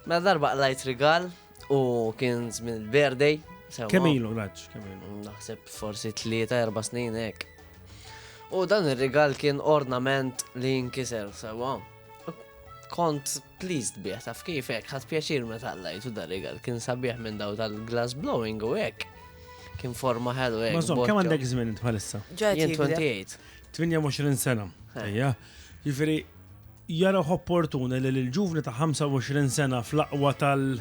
Mela darba qlajt rigal u kien żmien il-birthday. sewa. Kemm ilu raġ, kemm ilu. Naħseb forsi tlieta erba' snin hekk. U dan ir-rigal kien ornament li jinkiser sewa. Kont pleased bih taf kif hekk ħadd pjaċir meta qlajtu dar rigal kien sabiħ minn daw tal-glass blowing u hekk. Kien forma ħelu hekk. Mażom, kemm boccia. għandek żmien int bħalissa? Ġajt Jien jikdeb. 28. 28 sena. Ejja. Jifieri jarawh opportun li l-ġuvni ta' 25 sena fl-aqwa tal-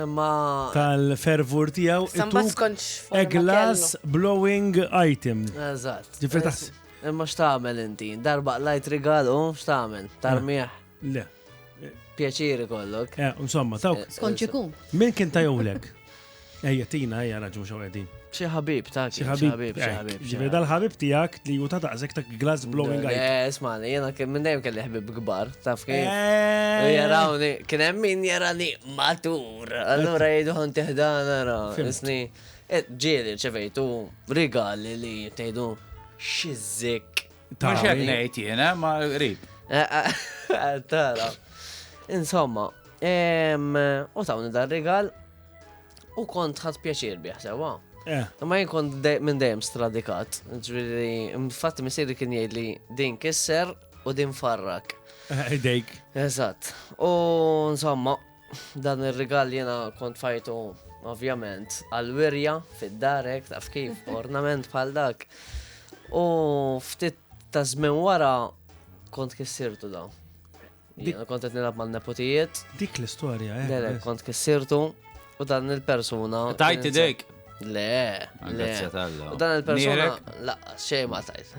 Ma. tal-fervur tiegħu Samba ituk skonċ a glass blowing item. Eżatt. Ġifri taħs- Imma x'tagħmel inti? Darba lajt rigalu, x'tagħmel? Tarmieħ, Le. pjaċiri kollok. Eh, Insomma, tawk. Skont xikun. Min kien tajowlek? Ejja, tina, ejja, raġun xaw għedin. Xi ħabib ta' xi ħabib, xi ħabib. Ġifieri dal-ħabib tiegħek li hu ta' daqshekk ta' glass blowing eye. Eh, smani, jiena kien minn dejjem kelli ħbib kbar, taf kien. Eh. Jarawni, kien hemm min jarani matur. Allura jgħidu ħan tiħdan ara, isni. Eh, ġieli ċevejtu rigali li tgħidu xizzik. Ta' xed ngħid jiena ma qrib. Eh, tara. Insomma, u tawni dar rigal U kont ħadd pjaċir bih sewa. Eh. Ma jien kont minn dejjem stradikat. Ġifieri, infatti missieri kien jgħid li din kisser u din farrak. Eh, idejk. Eżatt. U insomma, dan ir-rigal jiena kont fajtu ovvjament għal-wirja fid-darek taf kif ornament bħal dak. U ftit ta' żmien wara kont kissirtu dawn. Jena kont qed nilgħab mal-nepotijiet. Dik l-istorja, eh. Le, kont kissirtu u dan il-persuna. Tajt idejk. Le, le. U dan il-persuna la xejn ma tajt.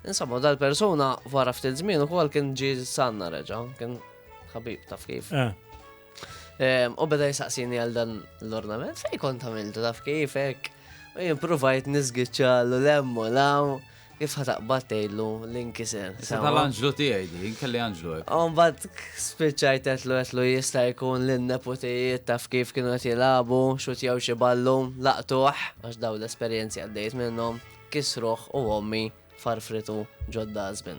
Insomma, dan il-persuna wara ftit żmien ukoll kien ġi sanna reġa', kien ħabib taf kif. Eh. Ehm, u beda jisaqsini għal dan l-ornament, fej kont għamiltu taf kif hekk. U jimprovajt nizgitxa l-lemmu law. Kif ħa taqbad tgħidlu li nkiser? Issa tal-anġlu tiegħi din, kelli anġlu hekk. Umbagħad spiċċajt qedlu qedlu jista' jkun li n-neputijiet taf kif kienu qed jilagħbu, xutjaw xi ballu, laqtuh għax dawn l-esperjenzi għaddejt minnhom, kisruh u ommi farfritu ġod-dustbin.